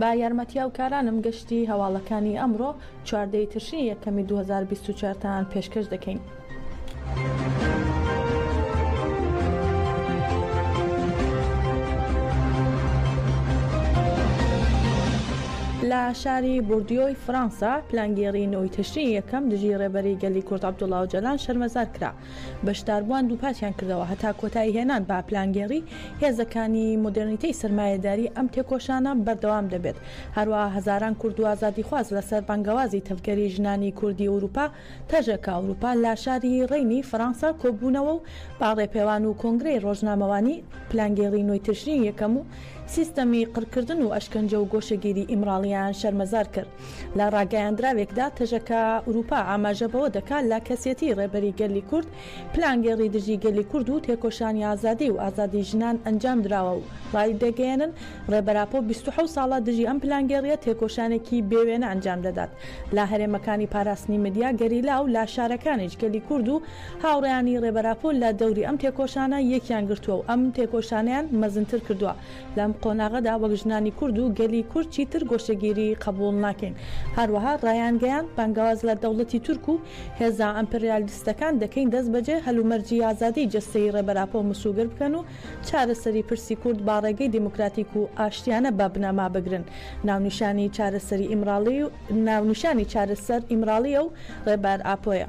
بە یارمەتیاوکارانم گەشتی هەواڵەکانی ئەمڕۆ چواردە ی تشرینی یەکەمی دوو هەزار و بیست و چوار تان پێشکەش دەکەین. لە شاری بوردیۆی فڕەنسا پلانگێڕی نۆی تشرینی یەکەم دژی ڕێبەری گەلی کورد عەبدوڵا ئۆجالان شەرمەزار کرا. بەشداربووان دووپاتیان کردەوە، هەتا کۆتاییهێنان بە پلانگێڕی هێزەکانی مۆدێرنیتەی سەرمایەداری ئەم تێکۆشانە بەردەوام دەبێت، هەروەها هەزاران کورد و ئازادیخواز لەسەر بانگەوازی تەڤگەری ژنانی کوردی ئەوروپا تەژەکە ئەوروپا لە شاری ڕێینی فەرانسە کۆببوونەوە و بە ڕێپێوان و کۆنگرەی ڕۆژنامەوانی پلانگێڕی نۆی تشرینی یەکەم و سیستەمی قڕکردن و ئەشکەنجە و گۆشەگیری ئیمراڵییان شەرمەزار کرد. لە ڕاگەیاندراوێکدا تەژەکە ئورووپا ئاماژە بەوە دەکات، لە کەسێتیی ڕێبەری گەلی کورد پلانگێڕی دژی گەلی کورد و تێکۆشانی ئازادی و ئازادیی ژنان ئەنجام دراوە و ڕایدەگەیەنن، ڕێبەر ئاپۆ بیست و حەوت ساڵە دژی ئەم پلانگێڕییە تێکۆشانێکی بێ وێنە ئەنجام دەدات لە هەرێمەکانی پاراستنی مەدیا گەریلا و لە شارەکانیش گەلی کورد و هاوڕێیانی ڕێبەر ئاپۆ لە دەوری ئەم تێکۆشانە یەکیان گرتووە و ئەم تێکۆشانەیان مەزنتر کردووە لەم قۆناغەدا وەک ژنانی کورد و گەلی کورد چیتر گۆشەگیری قەبووڵ ناکەین. هەروەها ڕایانگەیاند، بانگەواز لە دەوڵەتی تورک و هێزە ئەمپریالیستەکان دەکەین دەستبەجێ هەلومەرجی ئازادیی جەستەیی ڕێبەر ئاپۆ مسووگەر بکەن و چارەسەری پرسی کورد با ڕێگەی دیموکراتیک و ئاشتیانە بە بنەما بگرن. ناونیشانی چارەسەری ئیمراڵی ناونیشانی چارەسەر ئیمراڵییە و ڕێبەر ئاپۆیە.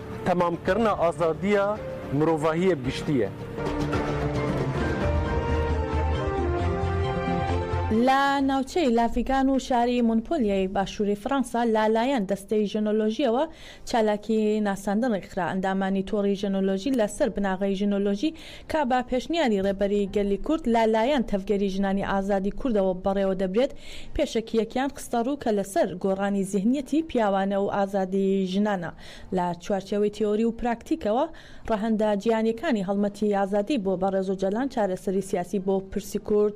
تەمامکردنە ئازادییە مرۆڤاهییە گشتییە. لە ناوچەی لافیگان و شاری مونپلیێی باشووری فڕەنسا لە لایەن دەستەی ژنۆلۆژییەوە چالاکی ناساندن ڕێکخرا. ئەندامانی تۆڕی ژنۆلۆژی لە سەر بناغەی ژنۆلۆژی کە بە پێشنیاری ڕێبەری گەلی کورد لە لایەن تەڤگەری ژنانی ئازادی کوردەوە بەڕێوە دەبرێت پێشەکییەکیان خستە ڕوو کە لە سەر گۆڕانی زیهنیەتی پیاوانە و ئازادی ژنانە. لە چوارچێوەی تیۆری و پراکتیکەوە، ڕەهەندە جیهانیەکانی هەڵمەتی ئازادی بۆ بەڕێز ئۆجالان چارەسەری سیاسی بۆ پرسی کورد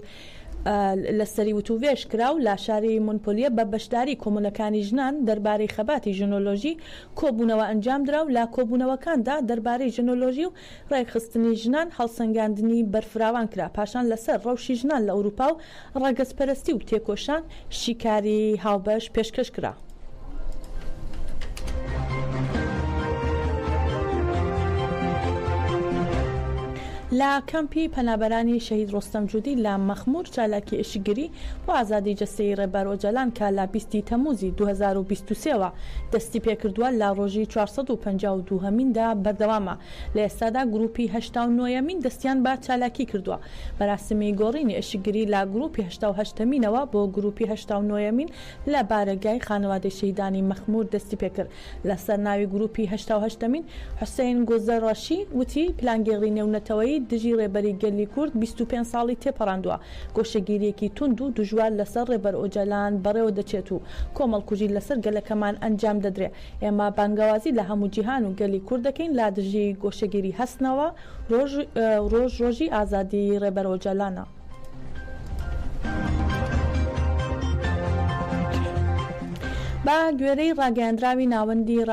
لە سەری وتووێژ کرا و لە شاری مونپلیە بە بەشداری کۆمونەکانی ژنان دەربارەی خەباتی ژنۆلۆژی کۆبوونەوە ئەنجام درا و لە کۆبوونەوەکاندا دەربارەی ژنۆلۆژی و ڕێکخستنی ژنان هەڵسەنگاندنی بەرفراوان کرا، پاشان لەسەر ڕەوشی ژنان لە ئەوروپا و ڕەگەزپەرەستی و تێکۆشان شیکاری هاوبەش پێشکەش کرا. لە کەمپی پەنابەرانی شەهید ڕۆستەم جودی لە مەخمور چالاکی ئێشکگری بۆ ئازادی جەستەیی ڕێبەر ئۆجالان کە لە بیست ی تەمووزی دوو هەزار و بیست و سێ وە دەستی پێکردووە لە ڕۆژی چوار سەد و پەنجا و دوو هەمیندا بەردەوامە، لە ئێستادا گروپی هەشتا و نۆ یەمین دەستیان بە چالاکی کردووە، مەراسمی گۆڕینی ئەشکگری لە گروپی هەشتا و هەشت ەمینەوە بۆ گروپی هەشتا و نۆ یەمین لە بارەگای خانەوادەی شەهیدانی مەخمور دەستی پێکرد لەسەر ناوی گروپی هەشتا و هەشت ەمین حسین گوزەرەشی وتی پلانگێڕی نێونەتەوەیی دژی ڕێبەری گەلی کورد بیست و پێنج ساڵی تێپەڕاندووە گۆشەگیرییەکی توند و دژوار لەسەر ڕێبەر ئۆجالان بەڕێوە دەچێت و کۆمەڵکوژی لەسەر گەلەکەمان ئەنجام دەدرێ. ئێمە بانگەوازی لە هەموو جیهان و گەلی کورد دەکەین لادژی گۆشەگیری هەستنەوە، ڕۆژ ڕۆژ ڕۆژی ئازادی ڕێبەر ئۆجالانە. بە گوێرەی ڕاگەیاندراوی ناوەندی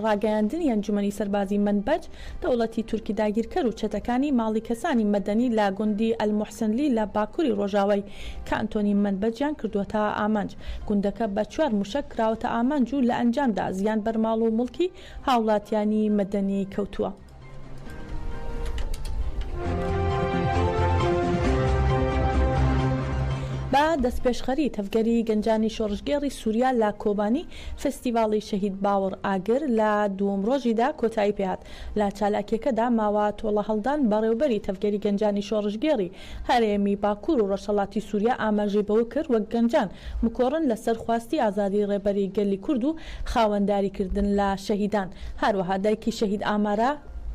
ڕاگەیاندنی ئەنجومەنی سەربازی مەنبەج، دەوڵەتی تورکی داگیرکەر و چەتەکانی ماڵی کەسانی مەدەنی لە گوندی ئەلموحسنلی لە باکوری ڕۆژاوای کانتۆنی مەنبەجیان کردووەتە ئامانج. گوندەکە بە چوار موشەک کراوەتە ئامانج و لە ئەنجامدا زیان بەر ماڵ و موڵکی هاوڵاتیانی مەدەنی کەوتووە. بە دەستپێشخەری تەڤگەری گەنجانی شۆڕشگێڕی سوریا لە کۆبانی، فستیڤاڵی شەهید باوڕ ئاگر لە دووەم ڕۆژیدا کۆتایی پێهات، لە چالاکیەکەدا ماوە تۆڵەهەڵدان بەڕێوبەری تەڤگەری گەنجانی شۆڕشگێڕی هەرێمی باکور و ڕۆژهەڵاتی سوریا ئاماژەی بەوە کرد وەک گەنجان بکۆڕن لەسەر خواستی ئازادی ڕێبەری گەلی کورد و خاوەنداری کردن لە شەهیدان هەروەها دایکی شەهید ئامارا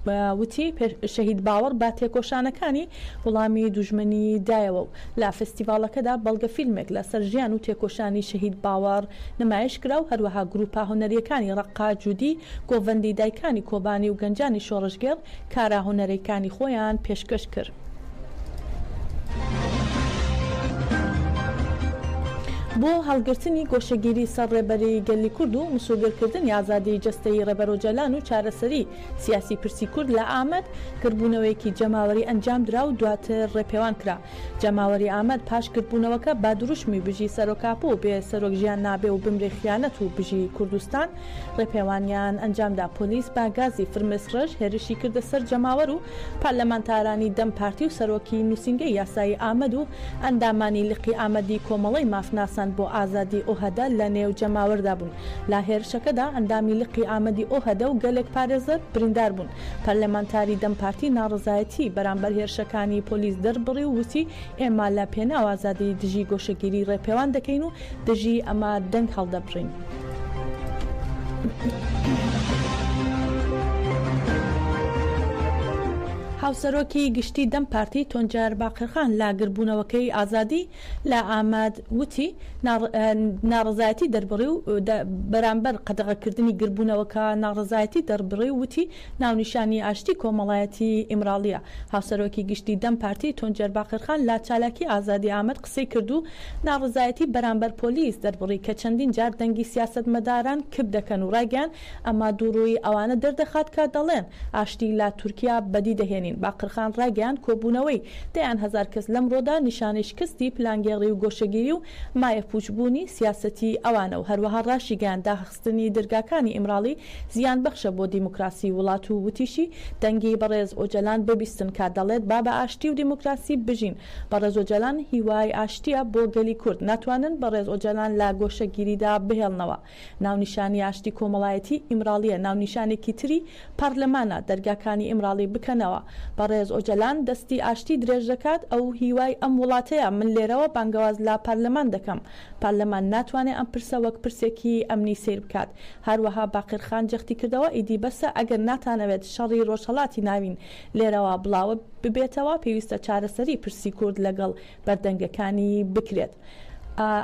وتی شەهید باوڕ بە تێکۆشانەکانی وڵامی دوژمنی دایەوە و لە فستیڤاڵەکەدا بەڵگەفیلمێک لە سەر ژیان و تێکۆشانی شەهید باوەڕ نمایش کرا و هەروەها گرووپە هونەرییەکانی ڕەققە، جودی، گۆڤەندی، دایکانی کۆبانی و گەنجانی شۆڕشگێڕ کارە هونەرەیکانی خۆیان پێشکەش کرد. بۆ هەڵگرتنی گۆشەگیری سەر ڕێبەری گەلی کورد و مسۆگەرکردنی ئازادیی جەستەیی ڕێبەر ئۆجالان و چارەسەری، سیاسی پرسی کورد لە ئامەد گردبوونەوەیەکی جەماوەری ئەنجامدرا و دواتر ڕێپێوان کرا. جەماوەری ئامەد پاش گردبوونەوەکە بە دروشمی بژی سەرۆکاپۆ و بێ سەرۆک ژیان نابێ و بمرێ خیانەت و بژی کوردستان ڕێپێوانیان ئەنجامدا. پۆلیس بە گازی فرمێسکڕێژ هێرشی کردە سەر جەماوەر و پارلەمانتارانی دەم پارتی و سەرۆکی نووسینگەی یاسایی ئامەد و ئەندامانی لقی ئامەدی کۆمەڵەی مافناسان بۆ ئازادی ئۆهەدە لە نێو جەماوەردا بوون. لە هێرشەکەدا ئەندامی لقی ئامەدی ئۆهەدە و گەلێک پارێزەر بریندار بوون. پەرلەمانتاری دەم پارتی ناڕەزایەتیی بەرامبەر هێرشەکانی پۆلیس دەربڕی و وتی، ئێمە لە پێناو ئازادیی دژی گۆشەگیری ڕێپێوان دەکەین و دژی ئەمە دەنگ هەڵدەبڕین. هاوسەرۆکی گشتیی دەم پارتی تونجەر باقرخان لە گردبوونەوەکەی ئازادی، لە ئامەد وتی، ناڕەزایەتی دەربڕی و بەرامبەر قەدەغەکردنی گردبوونەوەکە ناڕەزایەتی دەربڕی و وتی، ناونیشانی ئاشتی کۆمەڵایەتی ئیمراڵییە. هاوسەرۆکی گشتی دەم پارتی تونجەر باقرخان لە چالاکی ئازادی ئامەد قسەی کرد و ناڕەزایەتی بەرامبەر پۆلیس دەربڕی کە چەندین جار دەنگی سیاسەتمەداران کپ دەکەن و ڕایگەیاند، ئەمە دووڕوویی ئەوانە دەردەخات کە دەڵێن ئاشتی لە تورکیا بەدی دەهێنین. باقرخان ڕایگەیاند کۆبوونەوەی دەیان هەزار کەس لەمڕۆدا نیشانەی شکستی پلانگێڕی و گۆشەگیری و مایەپووچبوونی سیاسەتی ئەوانە و هەروەها ڕاشیگەیاند داخستنی دەرگاکانی ئیمراڵی زیانبەخشە بۆ دیموکراسی وڵات و وتیشی دەنگی بەڕێز ئۆجەلان ببیستن کە دەڵێت با بە ئاشتی و دیموکراسی بژین بەڕێز ئۆجەلان هیوای ئاشتییە بۆ گەلی کورد ناتوانن بەڕێز ئۆجەلان لە گۆشەگیریدا بهێڵنەوە ناونیشانی ئاشتی کۆمەڵایەتی ئیمراڵیە ناونیشانێکی تری پارلەمانە دەرگاکانی ئیمراڵی بکەنەوە بەڕێز ئۆجەلان دەستی ئاشتی درێژ دەکات ئەو هیوای ئەم وڵاتەیە من لێرەوە بانگەواز لە پارلەمان دەکەم پارلەمان ناتوانێ ئەم پرسە وەک پرسێکی ئەمنی سەیر بکات هەروەها باقر خان جەختی کردەوە ئیدی بەسە ئەگەر ناتانەوێت شەڕی ڕۆژهەڵاتی ناوین لێرەوە بڵاوە ببێتەوە پێویستە چارەسەری پرسی کورد لەگەڵ بەردەنگەکانی بکرێت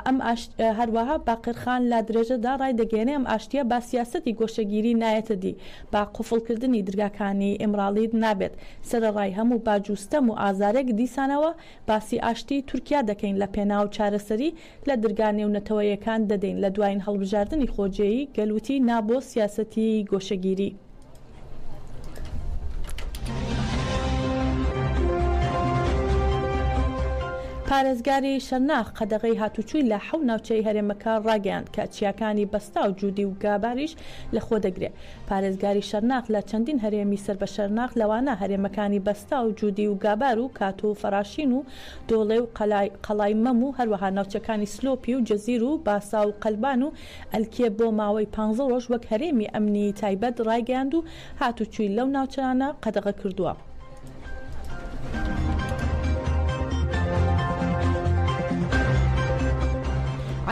ئەم ئاشت هەروەها باقرخان لا درێژەدا ڕای دەگەێنێ ئەم ئاشتیە با سیاستی گۆشەگیری نایەتە دی با قوفڵکردنی درگاکانی ئمراڵیت نابێت سەرە ڕای هەموو باجوستەم و ئازارێک دیسانەوە باسی ئاشتی تورکیا دەکەین لە پێناو چارەسەری لە درگا نێونەتەوەیەکان دەدەین لە دواین هەڵبژاردنی خۆجێی گەل وتی نا بۆ سیاسەتی گۆشەگیری. پارێزگاری شرناخ قەدەغەی هاتووچووی لە حەو ناوچەی هەرێمەکە ڕاگەیاند کە چیاکانی بەستا و جوودی و گاباریش لەخۆ دەگرێ پارێزگاری شرناخ لە چەندین هەرێمی سەر بە شرناخ لەوانە هەرێمەکانی بەستا و جوودی و گابار و کاتوو و فەراشین و دۆڵێ و قەلای قەڵای مەم و هەروەها ناوچەکانی سلۆپی و جزیر و باسا و قەلبان و ئەلکیە بۆ ماوەی پانزە ڕۆژ وەک هەرێمی ئەمنیی تایبەت ڕایگەیاند و هاتووچووی لەو ناوچانە قەدەغە کردووە.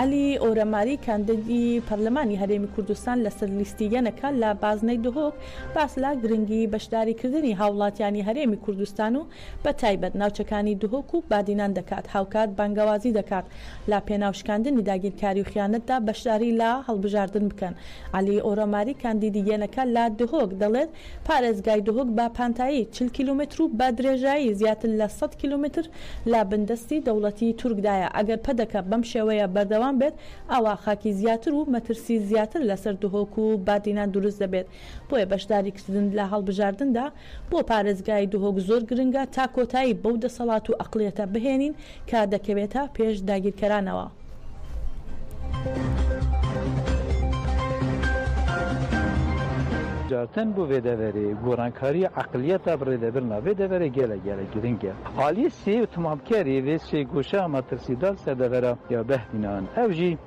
عەلی ئۆرەماری کاندیدی پەرلەمانی هەرێمی کوردستان لەسەر لیستی یەنەکە لە بازنەی دهۆک باس لە گرنگی بەشداریکردنی هاوڵاتیانی هەرێمی کوردستان و بە تایبەت ناوچەکانی دهۆک و بادینان دەکات، هاوکات بانگەوازی دەکات لە پێناو شکاندنی داگیرکاری و خیانەتدا بەشداری لە هەڵبژاردن بکەن. عەلی ئۆرۆماری کاندیدی یەنەکە لە دهۆک دەڵێت، پارێزگای دهۆک بە پانتایی چل کیلۆمەتر و بە درێژایی زیاتر لە سەد کیلۆمەتر لە بندەستی دەوڵەتی تورکدایە، ئەگەر پەدەکە بەم شێوەیە بەردەوام بێت ئەوا خاکی زیاتر و مەترسی زیاتر لەسەر دهۆک و بادینان دروست دەبێت، بۆیە بەشداریکردن لە هەڵبژاردندا بۆ پارێزگای دهۆک زۆر گرنگە تا کۆتایی بەو دەسەڵات و ئەقڵیەتە بهێنین کە دەکەوێتە پێش داگیرکەرانەوە. جارتن بۆ ڤێدەڤەرێ گۆڕانکاریە ئەقڵیەتە بڕێ دەبرنا ڤێدەڤەرێ گێلە گێلە گرنگە ئالیە سێ و تمامکەرێ ڤێ سێ گۆشە مەترسیدار سەردەڤەرا یا بهدینان ئەو ژی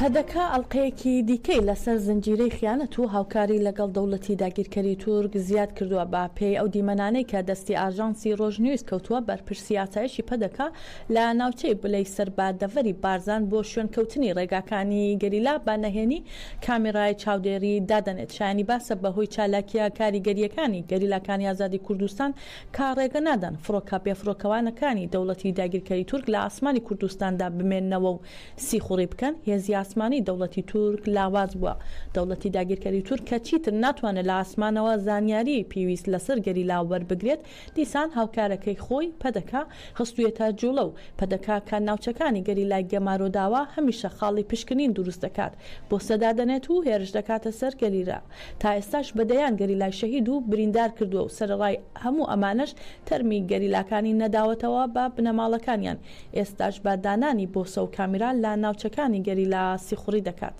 پەدەکە ئەڵقەیەکی دیکەی لەسەر زنجیرەی خیانەت و هاوکاری لەگەڵ دەوڵەتی داگیرکەری تورک زیاد کردووە، بە پێی ئەو دیمەنانەی کە دەستی ئاژانسی ڕۆژنیوز کەوتووە، بەرپرسی ئاسایشی پەدەکە لە ناوچەی بلەی سەر بە دەڤەری بارزان بۆ شوێنکەوتنی ڕێگاکانی گەریلا بە نەهێنی کامیڕای چاودێری دادەنێت، شایانی باسە بەهۆی چالاکییە کاریگەرییەکانی گەریلاکانی ئازادی کوردستان کە ڕێگەنادەن فڕۆکە بێفڕۆکەوانەکانی دەوڵەتی داگیرکەری تورک لە ئاسمانی کوردستاندا بمێننەوە و سیخوڕی بکەن، هێزی ئاسمانی دەوڵەتی تورک لاواز بووە، دەوڵەتی داگیرکەری تورک کە چیتر ناتوانێت لە ئاسمانەوە زانیاریی پێویست لەسەر گەریلا وەربگرێت، دیسان هاوکارەکەی خۆی، پەدەکە، خستوویەتە جووڵە و پەدەکە کە ناوچەکانی گەریلای گەمارۆ داوە، هەمیشە خاڵی پشکنین دروست دەکات، پۆستە دادەنێت و هێرش دەکاتە سەر گەریلا. تا ئێستاش بە دەیان گەریلای شەهید و بریندار کردووە و سەرەڕای هەموو ئەمانەش تەرمی گەریلاکانی نەداوەتەوە بە بنەماڵەکانیان، ئێستاش بە دانانی بۆسە و کامیرا لە ناوچەکانی گەریلا سیخوڕی دەکات.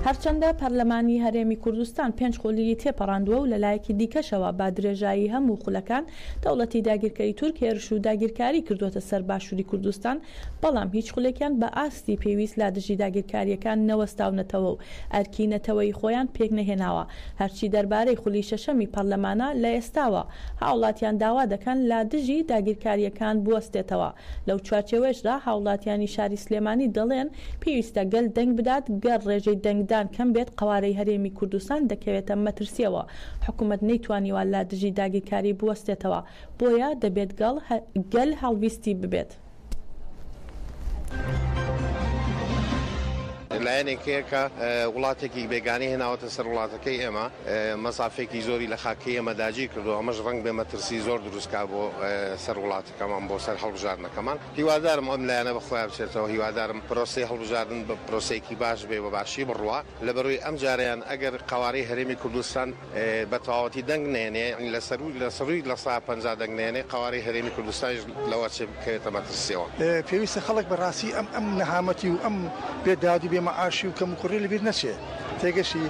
هەرچەندە پەرلەمانی هەرێمی کوردستان پێنج خولیی تێپەڕاندووە و لەلایەکی دیکەشەوە بە درێژایی هەموو خولەکان دەوڵەتی داگیرکەری تورک هێرش و داگیرکاری کردووەتە سەر باشووری کوردستان، بەڵام هیچ خولێکیان بە ئاستی پێویست لە دژی داگیرکارییەکان نەوەستاونەتەوە و ئەرکی نەتەوەیی خۆیان پێک نەهێناوە، هەرچی دەربارەی خولی شەشەمی پەرلەمانە لە ئێستاوە هاوڵاتیان داوا دەکەن لا دژی داگیرکارییەکان بوەستێتەوە، لەو چوارچێوەیشدا هاوڵاتیانی شاری سلێمانی دەڵێن پێویستە گەل دەنگ بدات گەر ڕێژەی دەنگدان کەم بێت قەوارەی هەرێمی کوردستان دەکەوێتە مەترسیەوە حکومەت نەیتوانیوە لا دژی داگیرکاری بوەستێتەوە بۆیە دەبێت گەڵ گەل هەڵویستی ببێت. لایەنێک هەیە کە وڵاتێکی بێگانی هێناوەتە سەر وڵاتەکەی ئێمە مەسافێکی زۆری لە خاکی ئێمە داگیر کردو ئەمەش ڕنگ بێ مەترسی زۆر دروستکە بۆ سەر وڵاتەکەمان بۆ سەر هەڵبژاردنەکەمان هیوادارم ئەم لایەنە بەخۆیا بچێتەوە هیوادارم پرۆسی هەڵبژاردن بە پرۆسەیەکی باش بێ بە باشی بڕوا لەبەروی ئەم جاریان ئەگەر قوارەی هەرێمی کوردستان بە تەواوەتی دەنگ نەیەنێ یەعنی لە سەرووی لە سەرووی لە سەدا پەنجا دەنگ نەیەنێ قەوارەی هەرێمی کوردستانیش لەوەچێ بکەوێتە مەترسیەوە. پێویستە خەڵک بە ڕاستی ئەم ئەم نەهامەتی و ئەم بێ داد و بێ مەعاشی و کەموکوڕیە لە بیر نەچێ تێگەشتی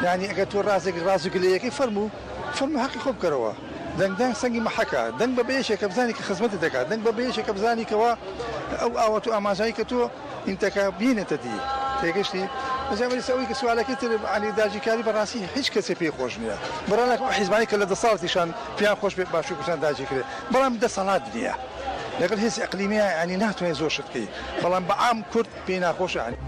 یەعنی ئەگەر تۆ ڕازێک ڕاز و گلەیەکەی فەرموو فەرموو حەقی خۆت بکەرەوە دەنگدان سەنگی مەحەکە دەنگ بە بە یەکێکە بزانی کە خزمەتت دەکا دەنگ بە بە یەکێکە بزانی کەوا ئەو ئاوات و ئامانجانەی کە تۆ ئینتەکە بینێتە دی تێگەشتی ئەجا بەریز ئەوەی کە سوالەکەی تر عەلی داگیرکاری بەڕاستی هیچ کەسێ پێی خۆش نییە بڕا لەکن ئەو حیزبانەی کە لە دەسەڵاتیشان پێیان خۆش بێ باشووری کوردستان داگیرکرێ بەڵام دەسەڵات نییە لەگەڵ هێزی ئەقلیمییە یانی ناتوانێ زۆر شت بکەی بەڵام بە عام کورد پێی ناخۆشە یانی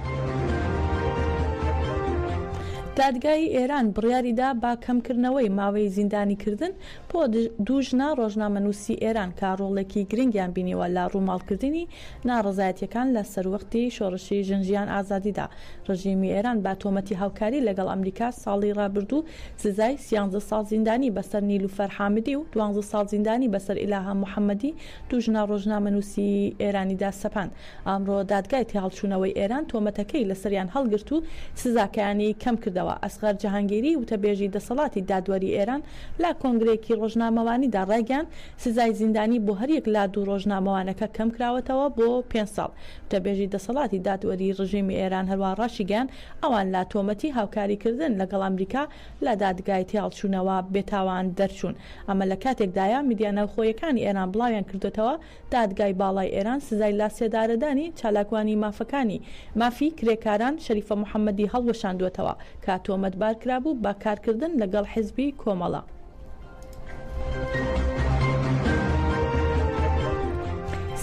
دادگای ئێران بڕیاری دا بە کەمکردنەوەی ماوەی زیندانیکردن بۆ دوو ژنە ڕۆژنامەنووسی ئێران کە ڕۆڵێکی گرنگیان بینیوە لە ڕووماڵکردنی ناڕەزایەتییەکان لە سەروەختی شۆڕشی ژن ژیان ئازادیدا، ڕژێمی ئێران بە تۆمەتی هاوکاری لەگەڵ ئەمریکا ساڵی ڕابردوو سزای سیانزە ساڵ زیندانی بەسەر نیلوفەر حامدی و دوانزە ساڵ زیندانی بەسەر ئیلاهە محەمەدی دوو ژنە ڕۆژنامەنووسی ئێرانیدا سەپاند. ئەمڕۆ دادگای تێهەڵچوونەوەی ئێران تۆمەتەکەی لەسەریان هەڵگرت و سزاکەیانی کەم کردەوە. ئەسغەر جەهانگیری وتەبێژی دەسەڵاتی دادوەری ئێران لە کۆنگرەیەکی ڕۆژنامەوانیدا ڕایگەیاند سزای زیندانی بۆ هەریەک لە دوو ڕۆژنامەوانەکە کەمکراوەتەوە بۆ پێنج ساڵ. گوتەبێژی دەسەڵاتی دادوەریی ڕژێمی ئێران هەروەها ڕاشیگەیاند، ئەوان لە تۆمەتی هاوکاریکردن لەگەڵ ئەمریکا لە دادگای تێهەڵچوونەوە بێتاوان دەرچوون. ئەمە لە کاتێکدایە، میدیا ناوخۆیەکانی ئێران بڵاویان کردووەتەوە، دادگای باڵای ئێران سزای لاسێدارەدانی چالاکوانی مافەکانی مافی کرێکاران شەریفە محەممەدی هەڵوەشاندووەتەوە کە تۆمەتبار کرابوو بە کارکردن لەگەڵ حزبی کۆمەڵە.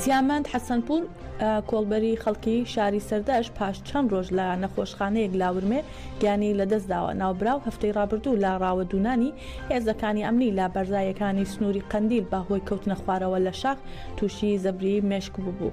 سیامەند حەسەنپوور کۆڵبەری خەڵکی شاری سەردەش پاش چەند ڕۆژ لە نەخۆشخانەیەک لاورمێ گیانی لەدەستداوە ناوبراو هەفتەی ڕابردوو لە ڕاوە دوونانی هێزەکانی ئەمنی لە بەرزایەکانی سنووری قەندیل بە هۆی کەوتنە خوارەوە لە شاخ تووشی زەبری مێشک ببوو.